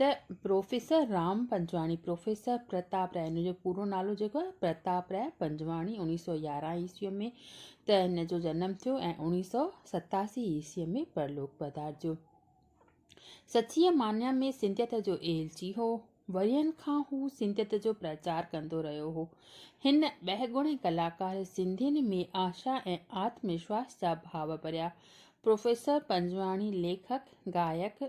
ته professor Ram Panjwani, professor Pratap Rai, هن جو پورو نالو جيڪو آهي پرتاب راء پنجواڻي، اوڻيهه سؤ يارهن عيسويء ۾ ته هن جو جنم ٿيو ۽ اوڻيهه سؤ ستاسي عيسويء ۾ پرلوڪ پڌارجيو. سچيء معني ۾ سنڌيت جو ايلچي هو. ورهين کان هو سنڌيت جو پرچار ڪندو رهيو هو. هن ٻهگڻي ڪلاڪار سنڌين ۾ آشا ۽ آتم وشواس جا ڀاو ڀريا. پروفيسر پنجواڻي ليکڪ، گائڪ،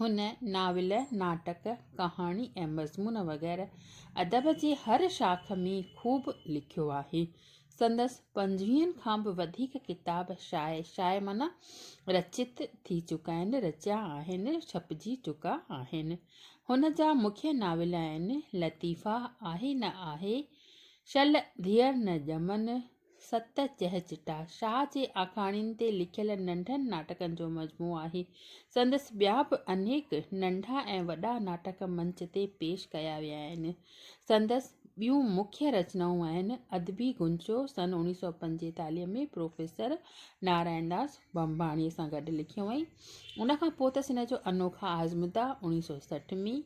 هن ناول، ناٽڪ، ڪهاڻي ۽ مضمون وغيره ادب جي هر شاخ ۾ خوب لکيو آهي. سندس پنجويهن کان به وڌيڪ ڪتاب شايع، شايع معنيٰ رچت ٿي چڪا آهن، رچيا آهن، ڇپجي چڪا آهن. هن جا مکيه ناول آهن، لطيفا، آهي نه آهي، شل ڌيئر نه ڄمن، ست چهچٽا، شاهه جي آکاڻين تي لکيل ننڍن ناٽڪن جو مجموعو آهي. سندس ٻيا به انيڪ ننڍا ۽ وڏا ناٽڪ منچ تي پيش ڪيا ويا آهن. سندس ٻيون مکيه رچنائون آهن، ادبي گونچو سن اوڻيهه سؤ پنجيتاليهه ۾ پروفيسر نارائڻ داس ڀنڀاڻيء سان گڏ لکيو هئائين. ان کان پوء ته سن جو انوکا آزمودا اوڻيهه سؤ سٺ ۾،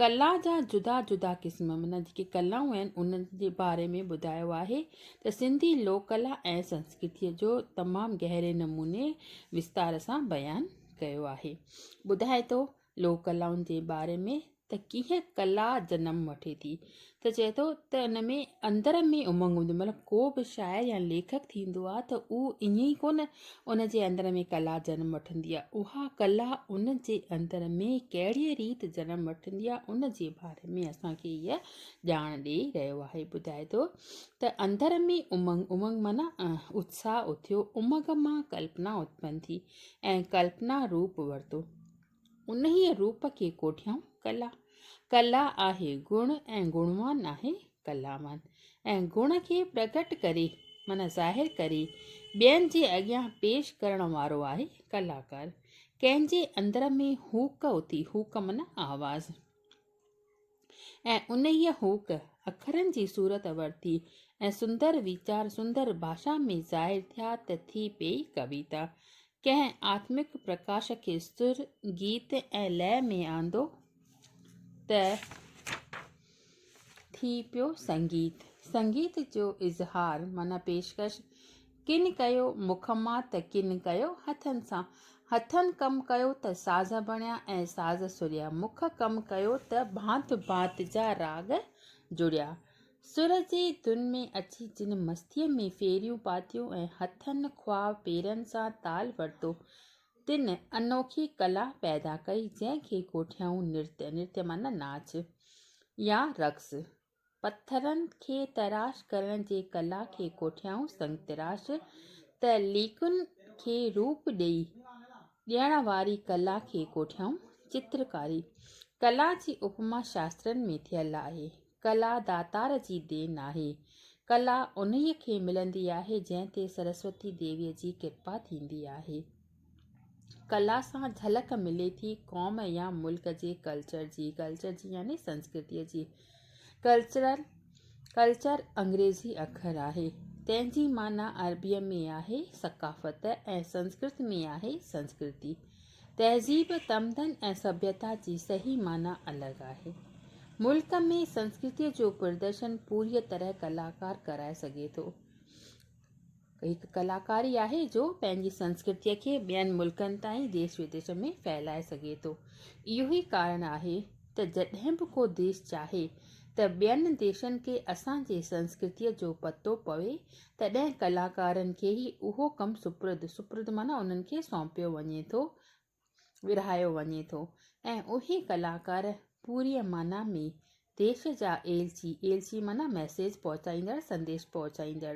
ڪلا جا جدا جدا قسم معنيٰ جيڪي ڪلائون آهن انهن جي باري ۾ ٻڌايو آهي ته سنڌي لوڪ ڪلا ۽ سنسڪرتيء جو تمام گهري نموني وستار سان بيان ڪيو آهي. ٻڌائي ٿو لوڪ ڪلائن جي باري ۾ ته ڪيئن ڪلا جنم وٺي ٿي. ته چئي ٿو ته ان ۾ اندر ۾ امنگ هوندي مطلب ڪو به شاعر يا ليکڪ ٿيندو آهي ته اهو ائين ئي ڪونه ان جي اندر ۾ ڪلا جنم وٺندي آهي اها ڪلا ان جي اندر ۾ ڪهڙيء ريت جنم وٺندي آهي ان جي باري ۾ اسانکي هيء ڄاڻ ڏئي رهيو آهي ٻڌائي ٿو ته اندر ۾ امنگ امنگ معنيٰ اتساهه اٿيو امنگ مان ڪلپنا اتپن ٿي ۽ ڪلپنا روپ ورتو انهيء روپ کي ڪوٺيائون ڪلا. ڪلا آهي گڻ ۽ گڻوان آهي ڪلاوان. ۽ گڻ کي پرگهٽ ڪري معنيٰ ظاهر ڪري ٻين جي اڳيان پيش ڪرڻ وارو آهي ڪلاڪار. ڪنهن جي اندر ۾ هوڪ اٿي، هوڪ معنيٰ آواز. ۽ انهيء هوڪ، اکرن جي صورت ورتي ۽ سندر ويچار سندر ڀاشا ۾ ظاهر ٿيا ته ٿي پيئي ڪويتا. ڪنهن آتمڪ پرڪاش کي سر، گيت ۽ لئه ۾ آندو ته ٿي پيو سنگيت. سنگيت جو اظهار معنيٰ پيشڪش، ڪن ڪيو مک مان ته ڪن ڪيو هٿن سان. هٿن ڪم ڪيو ته ساز بڻيا ۽ ساز سريا. مک ڪم ڪيو ته ڀانت ڀانت جا راڳ جڙيا. سر جي ڌن ۾ اچي جن مستيء ۾ ڦيريون پاتيون ۽ هٿن خواه پيرن سان تال ورتو، تن انوکي ڪلا پيدا ڪئي، جنهن کي ڪوٺيائون نرت، نرت معنيٰ ناچ يا رقص، پٿرن کي تراش ڪرڻ جي ڪلا کي ڪوٺيائون سنگ تراش ته ليڪن کي روپ ڏيڻ واري ڪلا کي ڪوٺيائون چترڪاري ڪلا جي اپما شاسترن ۾ ٿيل آهي ڪلا داتار جي دين آهي ڪلا انهيء کي ملندي آهي جنهن تي سرسوتي ديويء جي ڪرپا ٿيندي آهي ڪلا سان جهلڪ ملي ٿي قوم يا ملڪ جي ڪلچر جي ڪلچر جي يعني سنسڪرتيء جي ڪلچرل ڪلچر انگريزي اکر آهي تنهن جي معنيٰ عربيء ۾ آهي ثقافت ۽ سنسڪرت ۾ آهي سنسڪرتي تهذيب تمدن ۽ سڀيتا جي صحيح معنيٰ الڳ آهي ملڪ ۾ سنسڪرتيء جو پردرشن پوريء طرح ڪلاڪار ڪرائي سگهي ٿو هڪ ڪلاڪاري آهي جو پنهنجي سنسڪرتيء کي ٻين ملڪن تائين ديس وديس ۾ ڦهلائي سگهي ٿو. اهو ئي ڪارڻ آهي ته جڏهن به ڪو ديس چاهي ته ٻين ديسن کي اسان جي سنسڪرتيء جو پتو پوي تڏهن ڪلاڪارن کي ئي اهو ڪم سپرد، سپرد معنيٰ انهن کي سونپيو وڃي ٿو ۽ ورهايو وڃي ٿو ۽ اهي ڪلاڪار پوريء معنيٰ ۾ ديس جا ايلچي، ايلچي معنيٰ ميسيج پهچائيندڙ، سنديش پهچائيندڙ،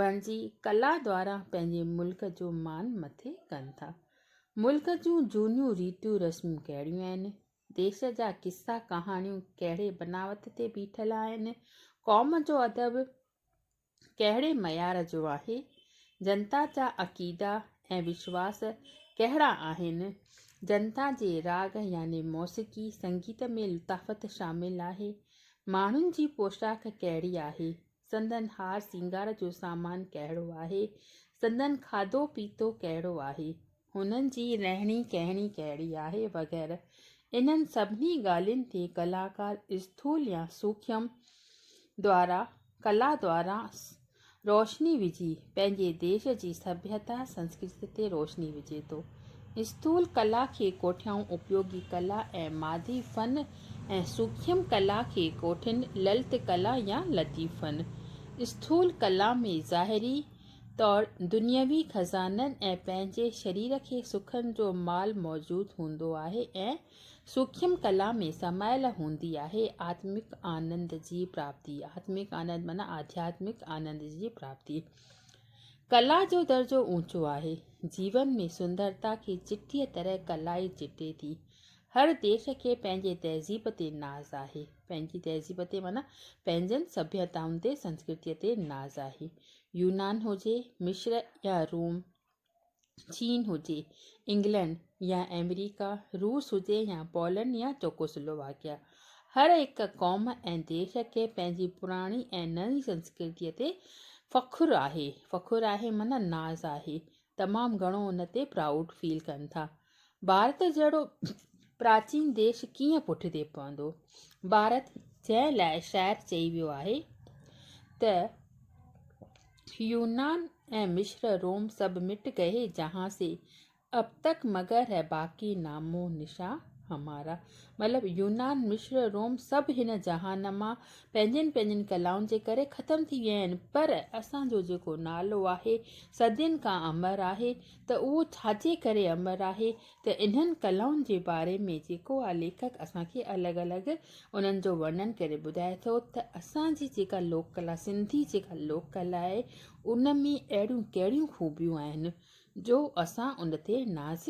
بڻجي ڪلا دواران پنهنجي ملڪ جو مان مٿي ڪن ٿا. ملڪ جون جهونيون ريتون رسمون ڪهڙيون آهن؟ ديس جا قصا ڪهاڻيون ڪهڙي بناوت تي بيٺل آهن؟ قوم جو ادب، ڪهڙي معيار جو آهي، جنتا جا عقيدا ۽ وشواس ڪهڙا آهن، جنتا جي راڳ يعني موسيقي سنگيت ۾ لطافت شامل آهي، ماڻهن جي پوشاڪ ڪهڙي آهي، سندن هار سينگار جو سامان ڪهڙو آهي، سندن کاڌو پيتو ڪهڙو آهي، هنن جي رهڻي ڪهڻي ڪهڙي آهي وغيره انهن سڀني ڳالهين تي ڪلاڪار اسٿول يا سوکيم دوارا ڪلا دوارا روشني وجهي پنهنجي ديش جي سڀيتا سنسڪرتي تي روشني وجهي ٿو. اسٿول ڪلا کي ڪوٺيائون اپيوگي ڪلا ۽ مادي فن ۽ سوکيم ڪلا کي ڪوٺين للت ڪلا يا لطيف فن. اسٿول ڪلا ۾ ظاهري طور دنيوي خزانن ۽ پنهنجي شرير کي سکن جو مال موجود هوندو آهي ۽ سوکيم ڪلا ۾ سمايل هوندي آهي آتمڪ آنند جي پراپتي آتمڪ آنند معنيٰ آڌياتمڪ آنند جي پراپتي ڪلا جو درجو اوچو آهي جيون ۾ سندرتا کي چٽيء طرح ڪلا ئي چٽي ٿي هر ديس کي پنهنجي تهذيب تي ناز آهي پنهنجي تهذيب تي معنيٰ پنهنجن سڀيتائن تي سنسڪرتيء تي ناز آهي يونان هجي، مصر يا روم، چين هجي، انگلنڊ يا آمريڪا، روس هجي يا پولنڊ يا چوڪوسلوواڪيا، هر هڪ قوم ۽ ديس کي پنهنجي پراڻي ۽ نئين سنسڪرتيء تي فخر آهي. فخر آهي معنيٰ ناز آهي. تمام گهڻو ان تي پرائوڊ فيل ڪن ٿا. ڀارت جهڙو پراچين ديش ڪيئن پٺتي پوندو. ڀارت جنهن لاء شاعر چئي ويو آهي ته يونان ۽ مصر روم سڀ مٽ گئي جهان سي اب تڪ مگر هي باقي نام و نشان همارا مطلب يونان مصر روم سڀ هن جهان مان پنهنجين پنهنجين ڪلائن جي ڪري ختم ٿي ويا آهن پر اسان جو جيڪو نالو آهي صدين کان امر آهي ته اهو ڇا جي ڪري امر آهي ته انهن ڪلائن جي باري ۾ جيڪو آ ليکڪ اسان کي الڳ الڳ انهن جو ورنن ڪري ٻڌائي ٿو ته اسان جي جيڪا لوڪ ڪلا سنڌي جيڪا لوڪ ڪلا آهي ان ۾ اهڙيون ڪهڙيون خوبيون آهن جو اسان ان تي ناز